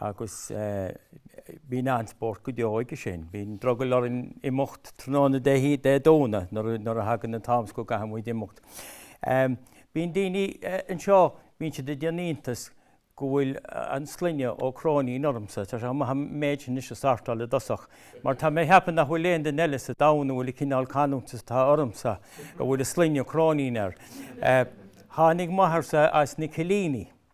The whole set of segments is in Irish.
Agus bíonn an-spórt go deo aige sin. Bíonn drogall orainn imeacht tráthnóna Dé Domhnaigh nuair a thagann an t-am is go gcaithfidh muid imeacht. Bíonn daoine anseo, bíonn siad ag déanamh iontais go bhfuil an sloinne Ó Cróinín ormsa. Tá sé chomh maith an méid sin anois a shórtáil i dtosach mar tá mé ag ceapadh nach bhfuil aon duine eile sa domhan a bhfuil an cineál canúint is atá ormsa a bhfuil an sloinne Cróinín air. Tháinig m'athairsa as na Cillíní.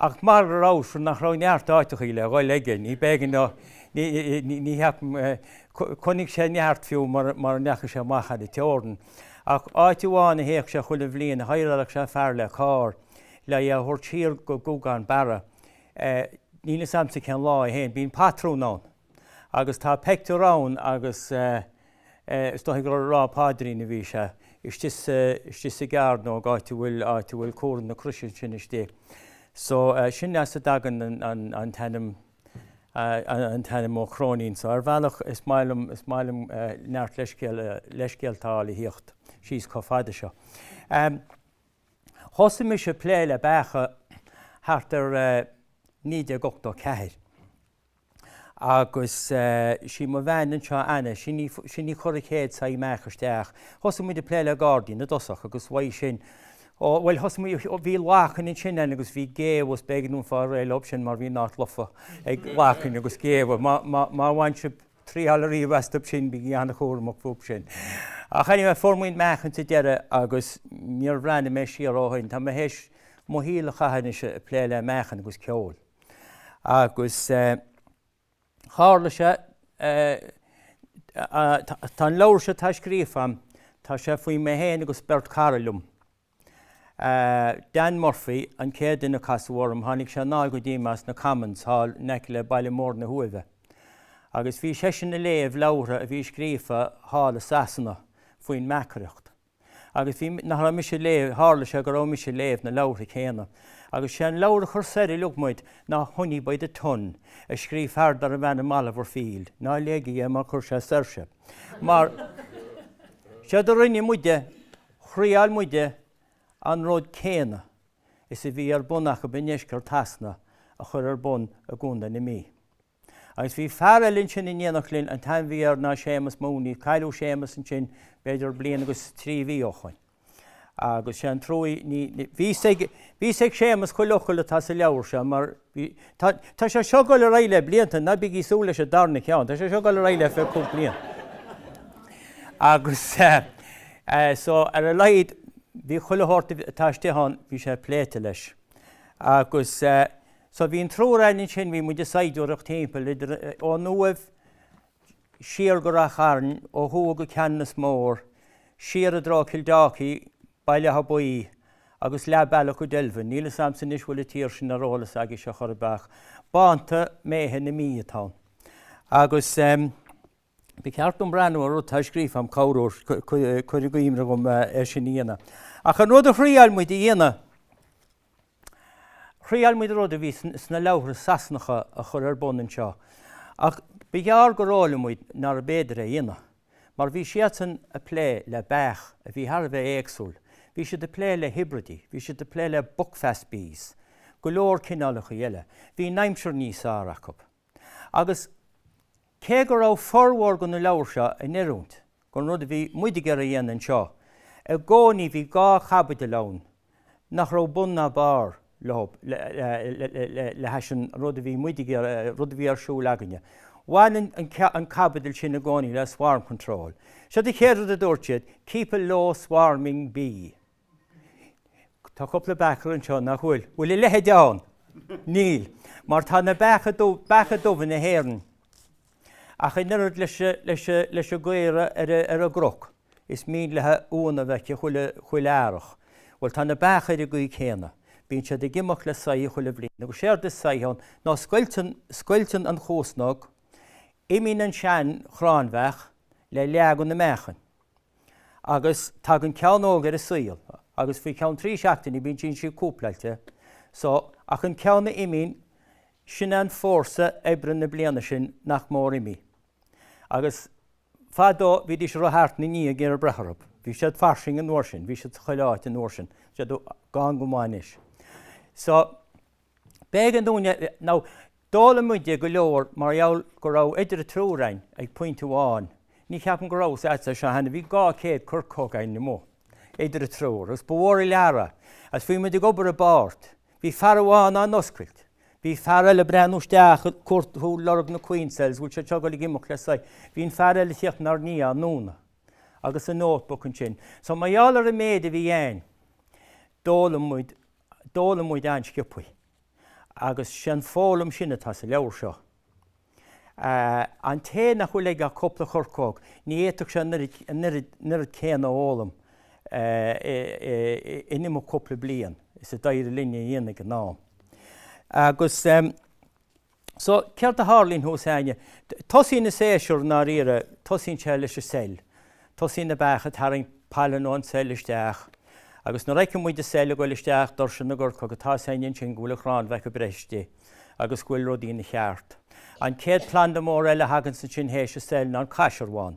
Ach mar go raibh sin nach raibh neart áiteachaí le dhul aige, ní b'éigean dó, ní cheapaim, chonaic sé neart fiú mura ndeachaigh sé amach thar an teorainn. Ach áit amháin a théadh sé chuile bhliain, hireáladh sé fear le carr le é a thabhairt siar go Gúgán Barra. Níl fhios a'msa cén lá é féin. Bíonn pátrún ann. Agus tá peictiúr ann agus is dóigh gur ag rá paidrín a bhí sé, istigh sa gcearnóg, áit a bhfuil comhartha na croise ansin istigh. So sin as a dtagann an t-ainm, an t-ainm Ó Cróinín. So ar bhealach is maith liom, is maith liom neart leithscéalta a fháil a thíocht síos chomh fada seo. Thosaigh mise ag plé le beacha thart ar 1984. Agus sí mo bhean anseo, Anna, sin í, sin í a chuir an chéad saithe meach isteach. Thosaigh muid ag plé le gairdín i dtosach agus uaidh sin, ó, bhuel, thosaigh muid, bhí lachain ansin againn, agus bhí géabha, b'éigean dom fáil réidh leob sin mar bhí an áit lofa ag lachain agus géabha, má, má, má bhain sibh triáil ariamh astub sin, bígí an-chúramach fúb sin. Ach anyway, fuair muid meachain sa deireadh agus níor bhreathnaigh mé siar ó shin. Tá mé théis mo shaol a chaitheamh anois ag plé le meachain agus ceol. Agus tharla sé, tá an leabhar seo atá scríofa agam, tá sé faoi mé féin agus beirt cara liom. Dan Murphy an chéad duine a casadh orm, tháinig sé anall go dtí mé as na Commons thall in aice le Baile Mór na hUaimhe. Agus bhí seisean ag léamh leabhartha a bhí scríofa thall i Sasana faoin mbeachaireacht. Agus bhí, nach raibh mise ag léamh, tharla sé go raibh mise ag léamh na leabhartha céanna. Agus sé an leabhar a chuir soir uilig muid ná Honey by the Ton, a scríobh fear darbh ainm Oliver Field. Ná léigí é mar cuirfidh sé soir sibh. Mar, séard a rinne muide, thraíáil muide an rud céanna is a bhí ar bun acu i ndeisceart Shasana a chur ar bun i gContae na Mí. Agus bhí fear eile ansin in éineacht linn, an t-ainm a bhí air ná Séamas Mooney, cailleadh Séamas ansin b'fhéidir bliain agus trí mhí ó shoin. Agus sé an truaí, ní, bhí 'fhios ag, bhí 'fhios ag Séamas chuile fhocal atá sa leabhar seo mar bhí, tá, tá sé seo ag dul ar aghaidh le blianta, ná bígí ag súil leis an darna ceann, tá sé seo ag dul ar aghaidh le fiche cúig bliana. Agus eh, so ar a laghad bhí chuile shórt atá istigh ann, bhí sé pléite leis. Agus eh, So bhí an triúr againn ansin, bhí muid ag saighdiúireacht timpeall, idir, ón Uaimh siar go Ráth Chairn, ó thuaidh go Ceanannas Mór, siar i dtreo Kildalkey, Baile Átha Buí agus leath bealach go Delvin. Níl 'fhios a'msa anois bhfuil an tír sin ar eolas agaibhse chor ar bith ach bánta méithe na Mí atá ann. Agus. Ba cheart dom breathnú ar rud atá scríofa agam, cabhróidh cur i gcuimhne dhom é sin a dhéanamh. Ach an rud a thriáil muid a dhéanamh, thriáil muid rud a bhí sna leabhartha Sasanacha a chur ar bun anseo, ach ba ghearr gur fhoghlaim muid nárbh fhéidir é a dhéanamh, mar bhí siadsan a' plé le beach a bhí thar a bheith éagsúil, bhí siad a' plé le hibridí, bhí siad a' plé le buckfast bees, go leor cineálachaí eile, bhí an aimsir níos fearr acu. agus cé go raibh formhór de na leabhair seo in oiriúint don rud a bhí muid ag iarraidh a dhéanamh anseo, i gcónaí bhí dhá chaibidil ann nach raibh bun ná barr leo le hais an rud a bhí muid ag iarraidh, rud a bhí ar siúl againne. Bhain an chaibidil sin i gcónaí le swarm control. Seo an chéad rud a dúirt siad, keep a low swarming bee. Tá cúpla beachaire anseo nach bhfuil. Bhfuil a leithéid ann? Níl, mar tá na beacha dubh, beacha dubha na hÉireann, ach in oiread leis, leis, leis an gcaora ar, ar an gcnoc, is mian léithi uan a bheith aici chuile, chuile earrach. Bhuel, tá na beacha ar an gcaoi céanna. Bíonn siad ag imeacht le saithe chuile bhliain. Agus séard is saithe ann ná scoilteann, scoilteann an chuasnóg, imíonn an sean-chráinbheach le leath de na meachain. agus tagann ceann óg ar an saol agus faoi cheann trí seachtaine bíonn sí sin cúpláilte. So, ach an ceann a imíonn, sin é an fórsa oibre na bliana sin nach mór imithe. Agus fadó bhídís ag rith thart ina ndiaidh ag iarraidh breith orthu. Bhí siad fairsing an uair sin, bhí siad chuile áit an uair sin, tá siad gann go maith anois. So. B'éigean dúinn, nó d'fhoghlaim muide go leor mar gheall go raibh idir an triúr againn ag pointe amháin. Ní cheapaim go rabhas anseo cheana, bhí dhá chéad coirceog againn amuigh idir an triúr agus ba mhór an lear é agus bhí muid ag obair i bpáirt. Bhí fear amháin á n-oscailt, bhí fear eile ag breathnú isteach, ag cuartú, ag lorg na queen cells, bhfuil siad seo ag dul ag imeacht le saithe, bhí an fear eile ag tíocht inár ndiaidh á ndúnadh agus an notebook ansin. So mar gheall ar an méid a bhí againn, d'fhoghlaim muid go. d'fhoghlaim muid an-sciobtha. Agus sé an fhoghlaim sin atá sa leabhar seo. An té nach bhfuil aige ach cúpla chorcóg, ní fhéadfadh sé an oiread céanna a fhoghlaim in imeacht cúpla bliain is a d'éirigh linne a dhéanamh ag an am. Agus. So, céard a tharlaíonn thuas againne? Tosaíonn an séasúr i ndáiríre, tosaíonn sé leis an Seil. Tosaíonn na beacha ag tarraingt pailine ón tSeil isteach. Agus nuair a fheiceann muid an Seil ag goil isteach doirse na gcoirceog tá a fhios againn ansin go bhfuil an chráinbheach ag breith istigh agus go bhfuil rudaí ina gceart. An chéad planda mór eile a thaganns ansin théis an Seil ná an Caisearbhán.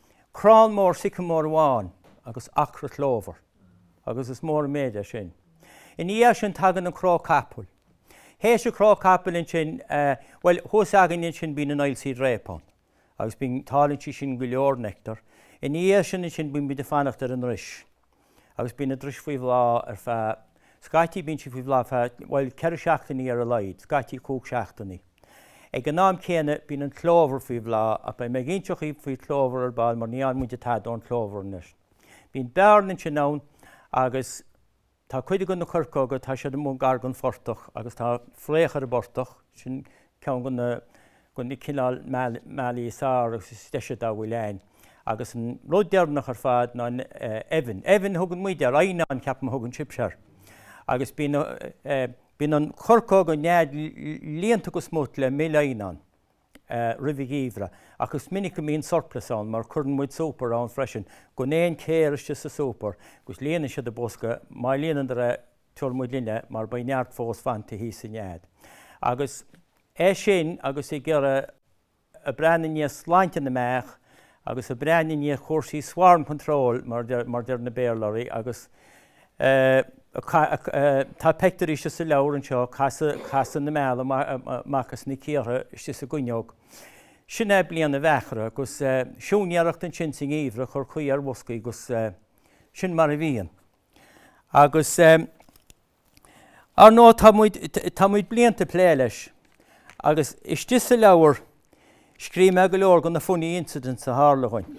crann mór sicimóir amháin agus acra clóbhar, agus is mór an méid é sin. Ina dhiaidh sin tagann an cnó capaill. Théis an cnó capaill ansin, bhuel, thuas againne ansin bíonn an oilseed rape ann agus bíonn, tálann sí sin go leor nectar. Ina dhiaidh sin ansin bíonn muid ag fanacht ar an ndris. agus bíonn an dris faoi bhláth ar feadh, scaití bíonn sí faoi bhláth ar feadh, bhuel, ceithre seachtainí ar a laghad, scaití cúig seachtainí. Ag an am céanna, bíonn an clóbhar faoi bhláth, ach beidh mé ag inseacht dhaoibh faoi chlóbhar ar ball mar ní fhaigheann muide tada ón chlóbhar anois. Bíonn bearna ansin ann agus tá cuid de na coirceoga, tá siad amuigh gar don phortach agus tá fraoch ar an bportach, sin Ceann de na cineál mealaí is fhearr agus is deise dá bhfuil ann. Agus an rud deireanach ar fad ná an eibheann. Eibheann a thugann muide air, eidhneán ceapaim a thugann sibhse air. Agus bíonn an choirceog, an nead líonta go smut le mil eidhneáin roimh an gheimhreadh, ach is minic go mbíonn surplus ann mar cuireann muid super ann freisin. Gan aon chéir istigh sa super agus líonann siad an bosca, má líonann, tabharfaidh muid linne mar beidh neart fós fanta thíos sa nead. Agus é sin agus ag iarraidh a bheith ag breathnú i ndiaidh sláinte na mbeach agus ag breathnú i ndiaidh chúrsaí swarm control mar a deir na Béarlóirí agus tá pictiúr ansin sa leabhar anseo ag casadh na meala amach as na cíortha istigh sa gcuinneog. Sin é bliain an bheachaire agus siúinéireacht ansin sa ngeimhreadh ag cur caoi ar bhoscaí agus sin mar a bhíonn. Agus, ar ndóigh, tá muid, tá muid blianta ag plé leis. Agus istigh sa leabhar, scríobh mé go leor de na funny incidents a tharla againn.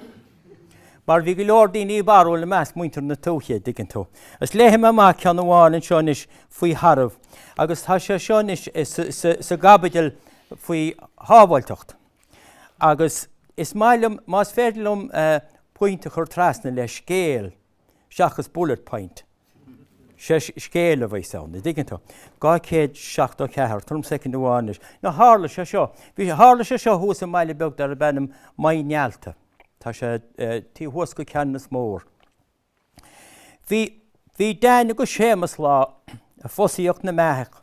Mar bhí go leor daoine barrúil i measc muintir na tuaithe, a' dtuigeann tú. Agus léifidh mé amach ceann amháin anseo anois faoi tharbh. Agus tá sé seo anois sa gcaibidil faoi shábháilteacht. Agus is maith liom, más féidir liom pointe a chur trasna le scéal, seachas bullet point. Sé scéal a bheas ann, a' dtuigeann tú. 274, tabhair dom soicind amháin anois. Now tharla sé seo, bhí, tharla sé seo thuas i mbaile beag darb ainm Maigh nEalta. Tá sé taobh thuas go Ceanannas Mór. Bhí, bhí Dan agus Séamas lá ag fosaíocht na mbeach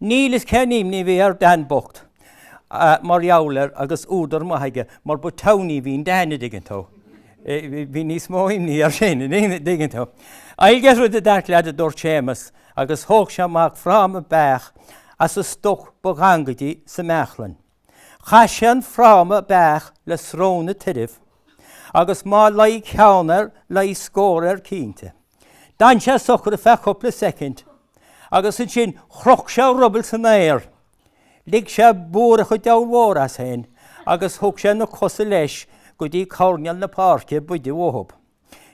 Níl a fhios cén imní a bhí ar Dan bocht mar gheall air agus údar maith aige mar ba townie a bhí in Dan, a' dtuigeann tú. Bhí níos mó imní air sin, a' dtuigeann tú. I'll get rid of that lad a dúirt Séamas agus thóg sé amach fráma beach as an stoc ba ghangaidí sa mbeachlainn. Chaith sé an fráma beach le srón an tairbh agus má luigh ceann air, luigh scór air cinnte. D'fhan sé socair ar feadh cúpla soicind agus ansin chroch sé a ruball san aer. Lig sé búireach an diabhail mhóir as féin agus thug sé na cosa leis go dtí coirnéal na páirce ab fhaide uathub.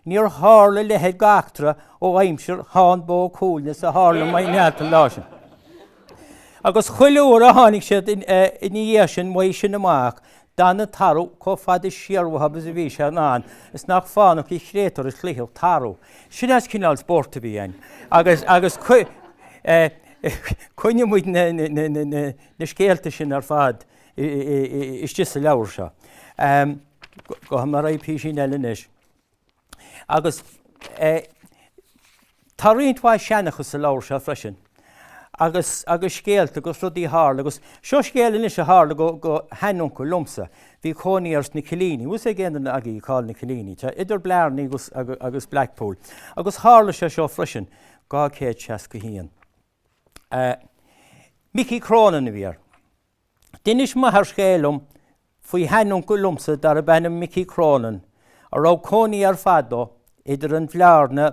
Níor tharla leithéid go eachtra ó aimsir Tháin Bó Cuailgne is a tharla i Maigh nEalta an lá sin. Agus chuile uair a tháinig siad ina dhiaidh sin uaidh sin amach, d'fhan an tarbh comh fada siar uathu agus a bhí sé in ann, is nach fánach de chréatúr a chloífeadh tarbh. Sin as cineál spóirt a bhí ann. Agus choinnigh muid na scéalta sin ar fad. istigh sa leabhar seo. Gabhfaidh mé ar aghaidh písín eile anois. Agus tá roinnt mhaith seanchas sa leabhar seo freisin, agus scéalta agus rudaí a tharla, agus seo scéal anois a tharla go sheanuncail liomsa. Bhí cónaí air sna Cillíní, an bhfuil a fhios ag aon duine agaibh cá bhfuil na Cillíní? Tá, idir Blarney agus Blackpool. Agus tharla sé seo freisin. 261. Micí Cronin a bhí air. D'inis m'athair scéal dom faoi sheanuncail liomsa darb ainm Mickey Cronin a raibh cónaí air fadó idir an Bhlarna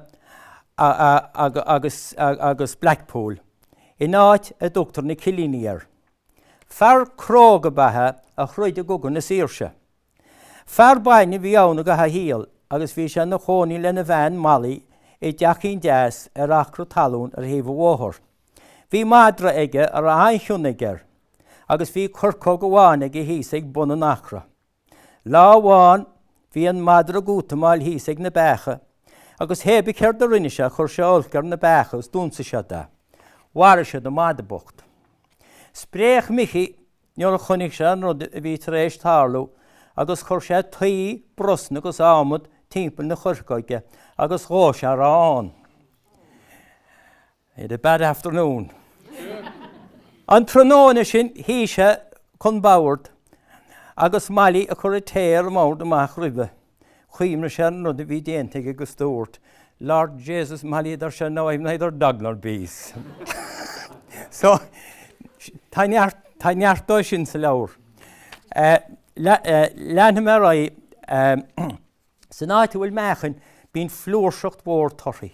agus Blackpool in áit a dtugtar na Cillíní air. Fear cróga ab ea é a throid i gCogadh na Saoirse. Fear bainne a bhí ann i gcaitheamh a shaoil agus bhí sé ina chónaí lena bhean, Molly, i dteachín deas ar acra talún ar thaobh an bhóthair. Bhí madra aige a raibh an-chion aige air agus bhí coirceog amháin aige thíos ag bun an acra. Lá amháin bhí an madra ag útamáil thíos ag na beacha agus hé bith céard a rinne sé chuir sé olc ar na beacha agus d'ionsaigh siad é. Mharaigh siad an madadh bocht. Spréach Micí nuair a chonaic sé an rud a bhí tar éis tarlú agus chuir sé tuí, brosna agus adhmad timpeall na coirceoige agus dhóigh sé a raibh ann. He had a bad afternoon. An tráthnóna sin shuigh sé chun boird agus Molly ag cur an tae ar an mbord amach roimhe. Chuimhnigh sé ar an rud a bhí déanta aige agus dúirt, Lord Jesus Molly a deir sé now I have neither dog nor bees. so, tá neart, tá neart dóibh sin sa leabhar. Uh, le, uh, leanfaidh mé ar aghaidh. Uh, san áit a bhfuil meachain, bíonn flúirseacht mhór torthaí.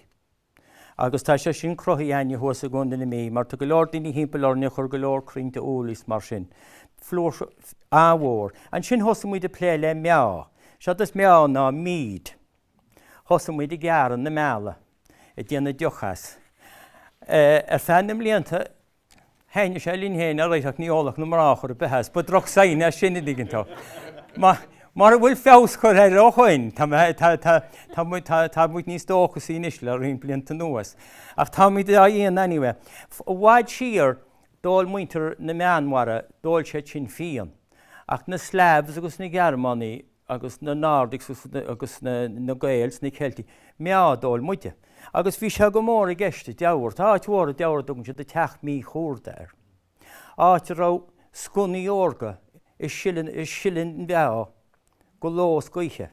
Agus tá sé sin cruthaithe againne thuas i gContae na Mí, mar tá go leor daoine thimpeall orainn a chuir go leor croinnte úll is mar sin. Flúirse an-mhór. Ansin thosaigh muid a plé le meá. Séard is meá ná mead. Thosaigh muid ag gearradh na meala, ag déanamh deoch as. Ar feadh na mblianta, Thaithnigh sé linn féin alright ach ní ólfadh na mná ar chor ar bith as. Ba droch-sign é sin an dtuigeann tú. Mara bhfuil feabhas curtha air ó shoin, tá mé, tá, tá, tá muid, tá, tá muid níos dóchasaí anois le roinnt blianta anuas. Ach tá muid á dhéanamh anyway. I bhfad siar, d'ól muintir na Meánmhara, d'ól siad sin fíon. Ach na Slavs agus na Gearmánaigh, agus na Nordics agus na Gaeil 's na Ceiltigh meá a d'ól muide. Agus bhí sé go mór i gceist i dTeamhair, tá áit mhór i dTeamhair a dtugann siad an Teach Miodhchuarta air, áit a raibh sconnaí órga a' sileadh an mheá go ló 's go oíche,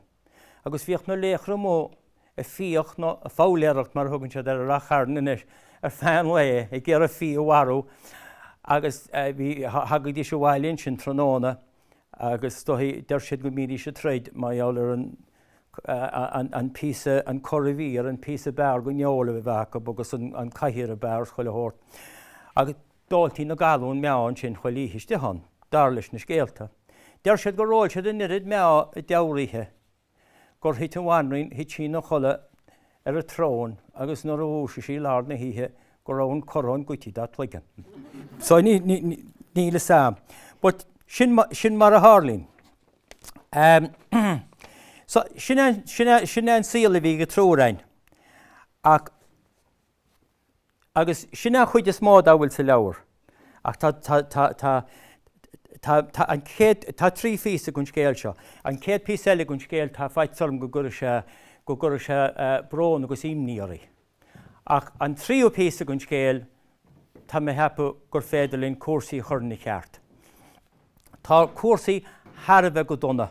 agus bhíodh na laochra amuigh a' fiach nó a' foghlaeireacht mar a thugann siad air i Ráth Chairn anois ar feadh an lae ag iarraidh fia a mharú agus thagadís abhaile ansin tráthnóna agus dóigh deir siad go mbídís ag troid mar gheall ar an an píosa an curadhmhír an píosa ab fhearr den fheoil a bheith acu agus an cathaoir ab fhearr chuile shórt. Agus d'óltaí na galúin meá ansin chuile oíche istigh ann, dar leis na scéalta. Deir siad gur ól siad an oiread meá i dTeamhair oíche. gur thit an bhanríon, thit sí 'na chodladh ar a throne agus nuair a dhúisigh sí lár na hoíche go raibh an coróin goidte dá cloigeann. So níl fhios a'm. But sin mar a tharlaíonn. So sin é an saol a bhí ag an triúr againn. Ach Agus sin an chuid is mó dá bhfuil sa leabhar. Ach tá, tá, tá, tá, tá, tá an chéad, tá trí phíosa den scéal seo. An chéad phíosa eile den scéal, tá faitíos orm go gcuirfidh sé, go gcuirfidh sé brón agus imní oraibh. Ach an tríú píosa den scéal, tá mé a cheapadh gur féidir linn cúrsaí a chur ina cheart. Tá cúrsaí thar a bheith go dona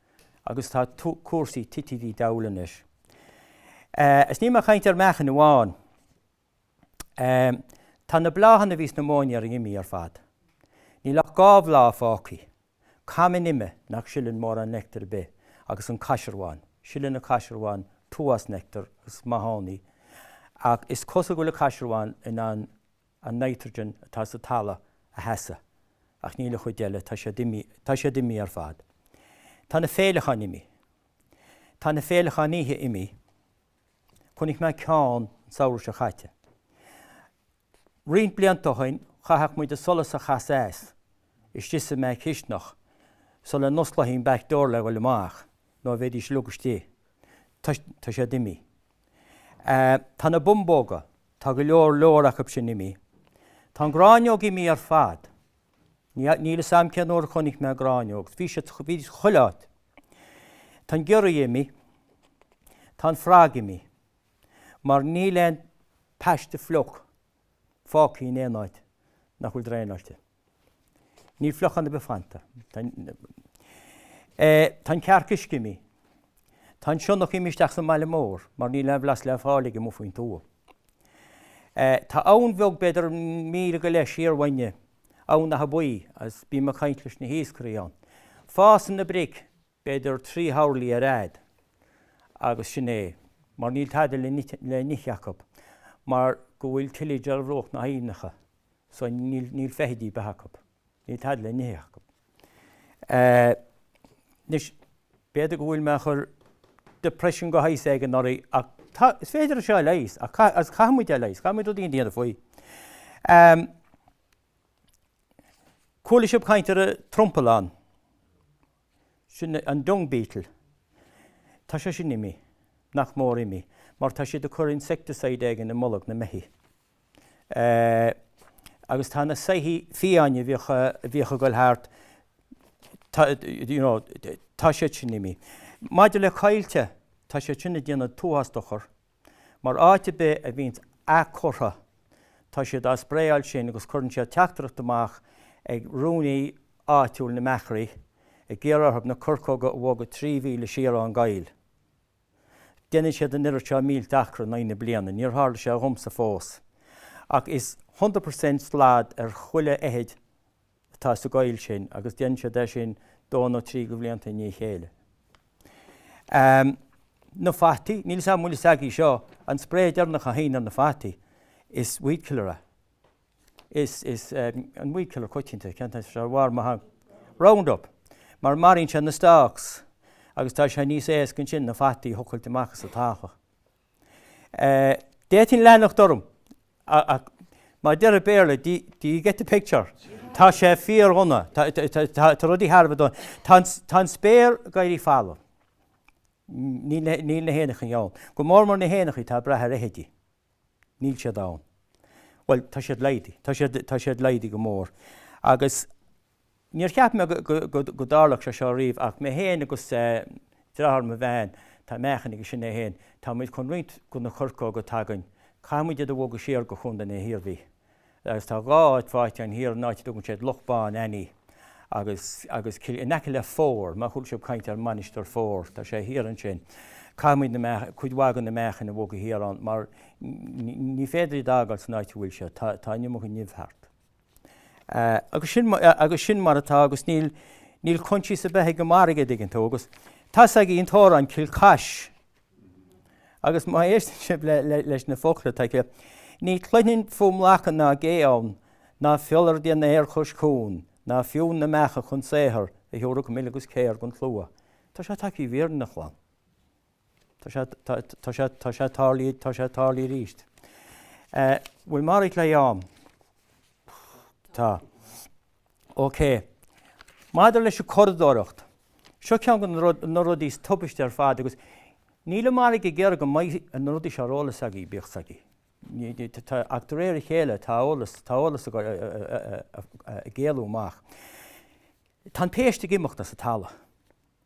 agus tá cúrsaí tite tigh diabhail anois. Is níl mé ag caint ar mheachain amháin. Tá na bláthanna a bhí sna móinéir imithe ar fad. Níl ach dhá bhláth fágthaí. Cam an ime nach sileann mórán nectar ar bith agus an caisearbhán. Sileann an caisearbhán tuas nectar agus is maith ann í ach is cosúil go bhfuil an caisearbhán in ann an nitrogen atá sa talamh a sheasamh ach níl an chuid eile, tá siad imí, tá siad imí ar fad. Tá na féileacháin imí. Tá na féileacháin oíche imí. Chonaic mé ceann an samhradh seo caite. Roinnt blianta ó shin, chaitheadh muid an solas a chasadh as istigh sa mback chistineach sula n-osclófaí an back door le dhul amach nó bheidís uilig istigh. Tá, tá siad imí. Tá na bumbóga, tá go leor leor acub sin imí. Tá an ghráinneog imí ar fad. Níl a fhios agam cén uair a chonaic mé gráinneog. Bhí siad chuile áit. Tá an giorria imí. Tá an frog imí. Mar níl aon phaiste fliuch fágtha in aon áit nach bhfuil draenáilte. Níl fliuchán ar bith fanta. Tá an cearc uisce imí. Tá an sionnach imí isteach sa mbaile mór mar níl aon bhlas le fáil aige amuigh faoin tuath. Tá abhainn bheag, b'fhéidir míle go leith siar uainne, Abhainn Átha Buí, agus bím ag caint leis na hiascairí ann. Fásann na bric b'fhéidir trí horlaí ar fhad, agus sin é, mar níl tada le n-ithe acu, mar go bhfuil tillage ar bhruach na haibhneacha so níl feithidí beatha acu, níl tada le n-ithe acu. Anois, b'fhéidir go bhfuil mé ag chur depression go has éigin oraibh ach tá, is féidir seo a leigheas ach agus caithfidh muid é a leigheas, caithfidh muid rud éicínt a dhéanamh faoi. Chuala sibh caint ar an trompallán. Sin an dung beetle. Tá sé sin imí. Nach mór imí. Mar tá siad ag cur insecticide éigin i mbolg na mbeithí. Agus tá na saithí fiáine a bhíodh, a bhíodh ag dul thart, tá, you know, tá siad sin imí. Maidir le coillte, tá siad sin ag déanamh an t-uafás dochar. mar áit ar bith a bhíonn athchurtha tá siad á spraeáil sin agus cuireann siad teachtaireacht amach ag rúnaí áitiúil na mbeachairí ag iarraidh orthu na coirceoga a bhogadh trí mhíle siar ón gcoill. Déanann siad an oiread seo mílte acra in aghaidh na bliana, níor tharla sé dhomsa fós, ach is hundred percent slad ar chuile fheithid atá sa gcoill sin agus déanann siad é sin dó nó trí de bhlianta i ndiaidh chéile. Na fataí, níl 's agam an bhfuil 's agaibh seo, an spray deireanach a théann ar na fataí is weedkiller é. Is an weedkiller coitianta, cén t-ainm atá air, an Roundup, mar maraíonn sé na stalks agus tá sé níos éasca ansin na fataí a thochailt amach as an talamh. D'fhéadfainn leanacht orm, ach mar a deir an Béarla, do you get the picture? Tá sé fíordhona, tá rudaí thar a bheith dona. Tá an spéir ag éirí folamh. Níl na héanachaí ann. Go mór mór na héanachaí atá ag brath ar fheithidí. Níl siad ann. Bhuel, tá siad laghdaithe. Tá siad laghdaithe go mór. Agus. Níor cheap mé go dtarlódh sé seo riamh ach mé féin agus dreatháir mo bhean, tá meachain aige sin é féin, tá muid chun roinnt de na coirceoga atá againn, caithfidh muid iad a bhogadh siar go Contae na hIarmhí. Agus tá dhá áit fáighte ann thiar, an áit a dtugann siad Loch Bán Annie agus agus cill in aice le Fore, má chuala sibh caint ar Mainistir Fore, tá sé thiar ansin. Caithfidh muid na meachain, cuid mhaith de na meachain a bhogadh thiar ann mar ní féidir iad a fhágáil san áit a bhfuil siad, tá an iomarca nimh thart. agus sin mar atá agus níl níl coinsias ar bith ag an margadh an dtuigeann tú agus tá's agaibh an t-amhrán Cill Cais agus má éisteann sibh le leis na focla atá aige Ní chluinim fuaim lacha ná gé ann ná fiolar ag déanamh aeir cois cuain ná fiú na meacha chun saothar a thiúrfadh mil agus céir don tslua. Tá sé tagtha i bhfírinne a chlann. Tá sé, tá, tá sé, tá sé tarlaithe, tá sé tarlaithe arís. Eh, bhfuil mé all right le ham? Tá. OK. Maidir leis an curadóireacht, seo ceann de na rud, na rudaí is tubaiste ar fad agus níl an margadh ag iarraidh go mbeadh na rudaí seo ar eolas agaibh, bíodh a fhios agaibh. Ní, ní, tá, tá, ach de réir a chéile tá eolas, tá eolas ag, eh, eh, eh, eh, ag éalú amach. Tá an péist ag imeacht as an talamh.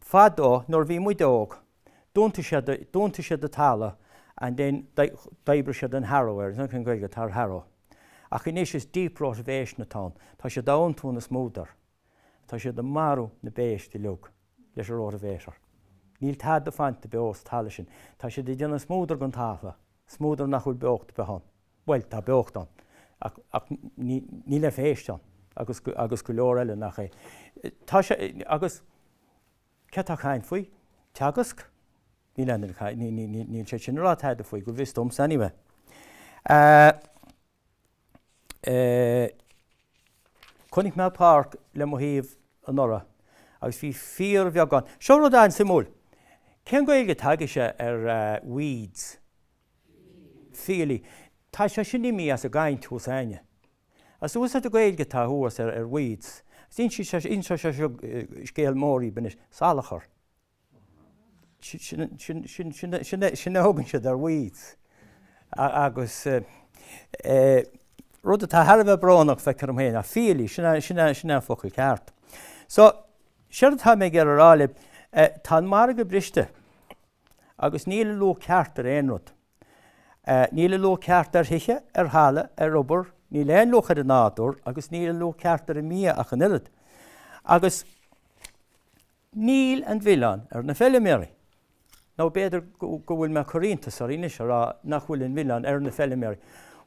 Fadó nuair bhí muid óg d'iontaíodh siad, d'iontaíodh siad an talamh and then d'oibríodh siad an harrow air, níl a fhios agam cén Ghaeilge atá ar harrow. Ach anois is deep rotavation atá ann, tá siad á iontú ina smúdar, tá siad ag marú na bpéist uilig leis an rotavator. Níl tada fanta beo sa talamh sin, tá siad ag déanamh smúdar den talamh, smúdar nach bhfuil beocht ar bith ann. bhuel, tá beocht ann, ach níl aon phéist ann, agus, agus go leor eile nach é. Tá sé, agus cé atá ag caint faoi? Teagasc? Níl aon duine ag caint, ní, ní, ní, níl siad sin ag rá tada faoi, go bhfios domsa anyway. Eh. Eh. Chonaic mé páirc le mo thaobh anuraidh, agus bhí fíorbheagán, seo rud an-suimiúil, cén Gaeilge atá agaibhse ar eh, weeds? Fiailí. Tá sé sin imithe as an gcaint thuas againne. As úsáid an Ghaeilge atá thuas ar Weeds. Is insíonn sé insíonn sé seo scéal mór dhaoibh anois salachar. Sin a thugann siad ar Weeds. Agus rud atá thar a bheith brónach feictear liom féin ach fiailí sin é sin é sin é an focal ceart. So, séard atá mé ag iarraidh a rá libh, tá an margadh briste. Agus níl an luach ceart ar aon rud. Níl an luach ceart ar thithe, ar thalamh, ar obair, níl aon luach ar an nádúr agus níl an luach ceart ar an mbia ach an oiread. Agus níl an milleán ar na feiliméaraí. Nó b'fhéidir go bhfuil mé ag cur iontas oraibh anois a rá nach bhfuil an milleán ar na feiliméaraí,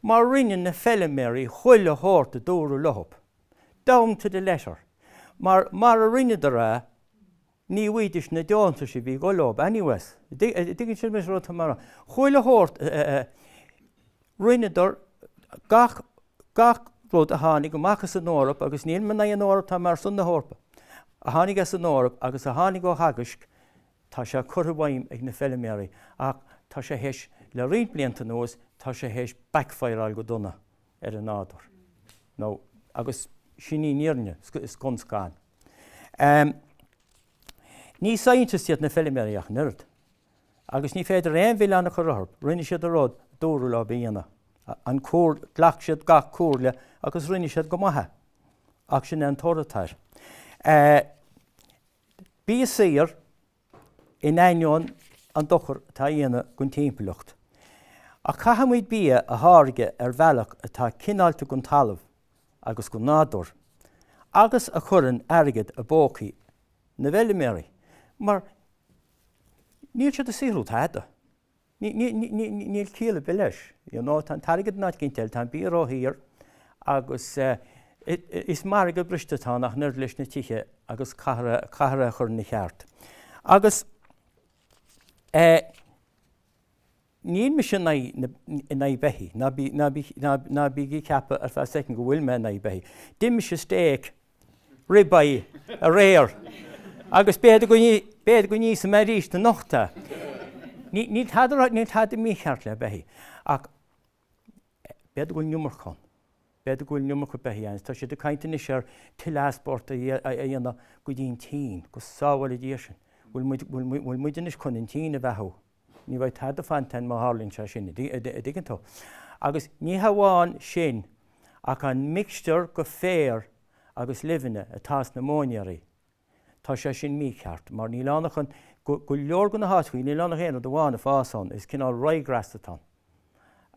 mar rinne na feiliméaraí chuile shórt a dúradh leo, down to the letter, mara ndéanfaidís a Ní bhfuighdis na deontais a bhí ag dul leob anyways. Dtuigeann sibh mé sa rud atá mé a rá. Chuile shórt rinneadar, gach, gach rud a tháinig amach as an Eoraip agus níl mé in aghaidh an Eoraip, tá mé ar son na hEorpa, a tháinig as an Eoraip agus a tháinig ó Theagasc, tá sé curtha i bhfeidhm ag na feilméaraí ach tá sé théis, le roinnt blianta anuas, tá sé théis backfireáil go dona ar an nádúr. Now, agus sin í an fhírinne scun scan. Ní scientists iad na feilméaraí ach an oiread. Agus ní féidir aon mhilleán a chur orthub, rinne siad a rud a dúradh leo a dhéanamh, an cúrd, ghlac siad gach comhairle agus rinne siad go maith é. Ach sin é an toradh atá air. Bia saor in ainneoin an dochar atá a dhéanamh don timpeallacht. Ach caithfimid bia a tháirgeadh ar bhealach atá cineálta don talamh agus don nádúr, agus a chuireann airgead i bpócaí na bhfeilméaraí, mar níl siad ag saothrú tada. Níl ciall ar bith leis. You know, tá an t-airgead in áit eicínt eile, tá an bia róshaor agus is margadh briste é atá ar nós leis na tithe agus caithfear é a chur ina cheart. Agus níl mise in aghaidh in aghaidh beithígh, ná bí ná bí ná bí ag ceapadh ar feadh soicind go bhfuil mé in aghaidh beithígh. D'ith mise steak ribeye aréir agus b'fhéidir go n-íosfaidh mé arís anocht é. Níl tada right, níl tada mícheart le beithí ach b'fhéidir go bhfuil an iomarca ann. B'fhéidir go bhfuil an iomarca beithí ann is tá siad ag caint anois ar tuilleadh export a dhéanamh go dtí an tSín, go sábhála Dia sinn. Bhfuil muid anois chun an tSín a bheathú? Ní bheidh tada ag fanacht ann má tharlaíonn sé sin, an dtuigeann tú. Agus ní hamháin sin ach an mixture go féar agus luibheanna atá sna móinéirí, tá sé sin mícheart mar níl ann ach an, go leor de na háiteachaí, níl ann ach aon rud amháin ag fás ann, is cineál ryegrass atá ann.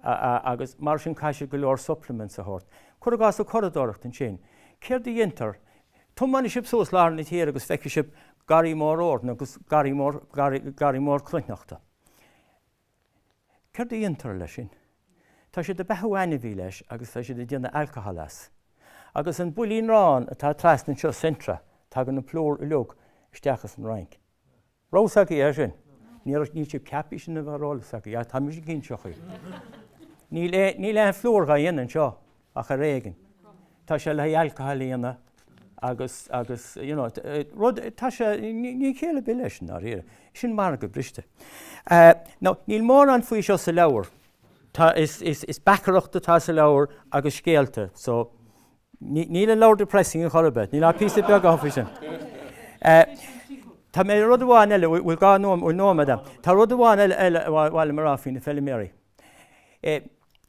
agus mar sin caithfidh siad go leor supplements a thabhairt. Cur i gcás an curadóireacht ansin. Céard a dhéantar? Tiomáinfidh sibh suas lár na tíre agus feicfidh sibh garraí mór eorna agus garraí mór, garraí, garraí mór cruithneachta. Céard a dhéantar leis sin? Tá siad ag beathú ainmhí leis agus tá siad ag déanamh alcohol as. Agus an builín aráin atá trasna anseo, Centra, tagann an plúr uilig isteach as an Fhrainc. Raibh a fhios agaibh é sin? Ní raibh, níl sibh ceaptha é sin a bheith ar eolas agaibh. Tá mise ag inseacht dhaoibh. Níl é, níl aon phlúr dhá dhéanamh anseo ach ar éigin. Tá sé le haghaidh alcohol a dhéanamh agus, agus, you know, rud, tá sé, níl aon chéill ar bith leis sin, i ndáiríre. Sin margadh briste. Now, níl mórán faoi seo sa leabhar. Tá, is, is, is beachaireacht atá sa leabhar agus scéalta, so, Níl an leabhar depressing ar chor ar bith. Níl ach píosa beag ann faoi sin. Tá mé ar rud amháin eile, bhfuil dhá nóiméad agam? Tá rud amháin eile ar mhaith liom a rá faoi na feiliméaraí.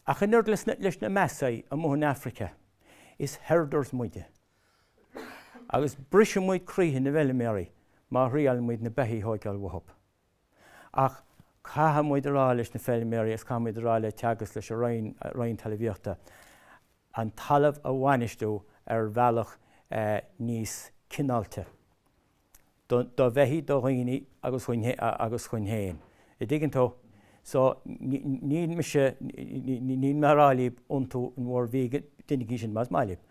Ach an oiread leis na Maasai amuigh in Africa, is herders muide. Agus brisfidh muid croíthe na bhfeiliméaraí má thriaileann muid na beithígh a thógáil uathu. Ach caithfidh muid a rá leis na feilméaraí agus caithfidh muid a rá le Teagasc, leis an Roinn, Roinn Talamhaíochta, an talamh a bhainistiú ar bhealach níos cineálta don, do bheithígh, do dhaoine agus dhúinn, agus dhúinn féin. An dtuigeann tú? So, níl mise, níl mé a' rá libh iontú in bhur vegan, déanaigí sin más maith libh.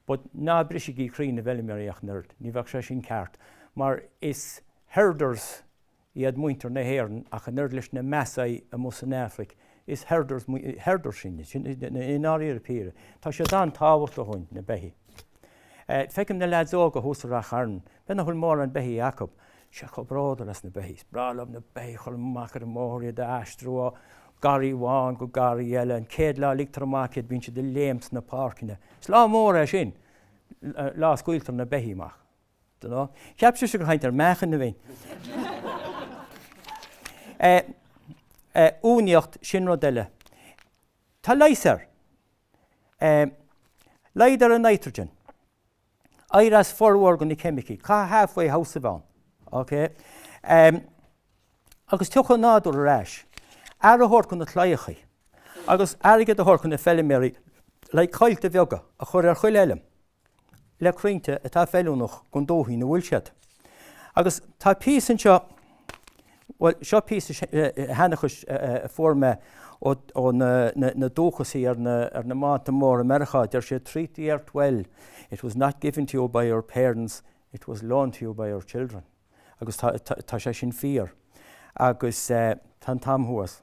But ná brisigí croí na bhfeilméaraí ach an oiread, ní bheadh sé sin ceart. Mar is, herders, iad muintir na hÉireann ach an oiread leis na Maasai amuigh san Afraic, is herders, herders sinn, i ndáiríre píre. Tá siad an-tábhachtach dhúinn, na beithígh. Feicim na leaids óga thuas i Rath Chairn, b'fhéidir nach bhfuil mórán beithígh acu, siad chomh bródúil as na beithígh, is breá liom na beithígh, ag goil amach ar an mbóthar iad a aistriú ó gharraí amháin go garraí eile, an chéad lá a ligtear amach iad bíonn siad ag léim sna páirceanna, is lá mór é sin, lá a scaoiltear na beithígh amach. Now. Cheap sibhse gur caint ar mheachain a bhí ann. Uainíocht, sin rud eile. Tá leigheas air. Laghdaigh ar an nitrogen. Éirigh as formhór de na ceimicigh. Caithfidh halfway house a bheith ann. OK? Agus tiocfaidh an nádúr ar ais. Aire a thabhairt do na claíochaí. Agus airgead a thabhairt do na feiliméaraí le coillte bheaga a chur ar chuile fheilm. le crainnte atá feiliúnach don dúthaigh ina bhfuil siad. Agus tá píosa anseo, bhuel, seo píosa sheanchais a fuair mé ó na dúchasaigh ar na mbánta móra i Meiriceá. Deir sé, Treat the earth well, it was not given to you by your parents, it was loaned to you by your children. Agus tá sé sin fíor. Agus tá an t-am thuas.